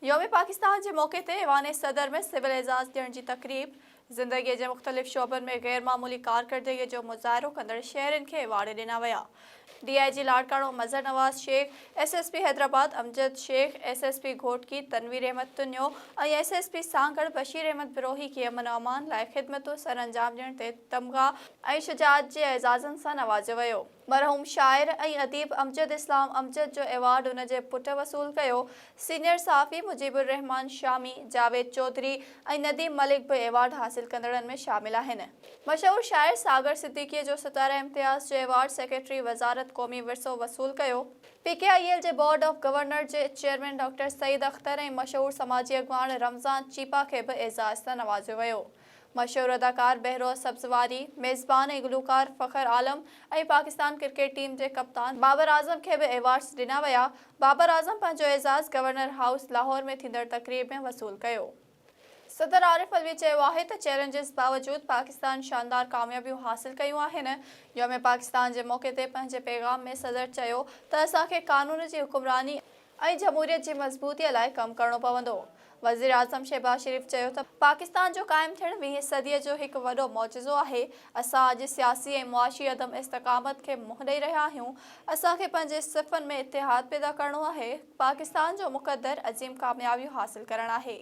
يوم پاڪستان جي موقعي تي ايوان صدر ۾ سول اعزاز ڏيڻ جي تقريب، زندگيء جي مختلف شعبن ۾ غير معمولي ڪارڪردگيء جو مظاهرو ڪندڙ شهرين کي ايوارڊ ڏنا ويا، D I G Larkana Mazhar Nawaz Shaikh, S S P Hyderabad Amjad Shaikh, S S P Ghotki Tanveer Ahmed Tunio ۽ S S P Sanghar Bashir Ahmed Brohi کي امن و امان لاء خدمتون سرانجام ڏيڻ تي تمغا ۽ شجاعت جي اعزازن سان نوازيو ويو. مرحوم شاعر ۽ اديب امجد اسلام امجد جو ايوارڊ ان جي پٽ وصول ڪيو. سينيئر صحافي مجيب الرحمان شامي، جاويد چوڌري ۽ نديم ملڪ به ايوارڊ حاصل ڪندڙن ۾ شامل آهن. مشهور شاعر ساگر صديقيء جو ستاره امتياز جو ايوارڊ سيڪريٽري وزارت قومي ورثو وصول ڪيو. پي ڪي آء ايل جي بورڊ آف گورنر جي چيئرمين ڊاڪٽر سعيد اختر ۽ مشهور سماجي اڳواڻ رمضان چيپا کي به اعزاز سان نوازيو ويو. مشهور اداڪار بهروز سبزواري، ميزبان ۽ گلوڪار فخر عالم ۽ پاڪستان ڪرڪيٽ ٽيم جي ڪپتان بابر اعظم کي به ايوارڊز ڏنا ويا، بابر اعظم پنهنجو اعزاز گورنر هائوس لاهور ۾ ٿيندڙ تقريب ۾ وصول ڪيو. صدر عارف علوي چيو آهي ته چئلينجز باوجود پاڪستان شاندار ڪاميابيون حاصل ڪيون آهن، يوم پاڪستان جي موقعي تي پنهنجي پيغام ۾ صدر چيو ته اسان کي قانون جي حڪمراني، ۽ جمهوريت جي مضبوطيء لاء ڪم ڪرڻو پوندو. وزيراعظم شهباز شريف چيو ته پاڪستان جو قائم ٿيڻ ويهين صديء جو هڪ وڏو معجزو آهي، اسان اڄ سياسي ۽ معاشي عدم استقامت کي منهن ڏئي رهيا آهيون، اسان کي پنهنجي صفن ۾ اتحاد پيدا ڪرڻو آهي، پاڪستان جو مقدر عظيم ڪاميابيون حاصل ڪرڻ آهي.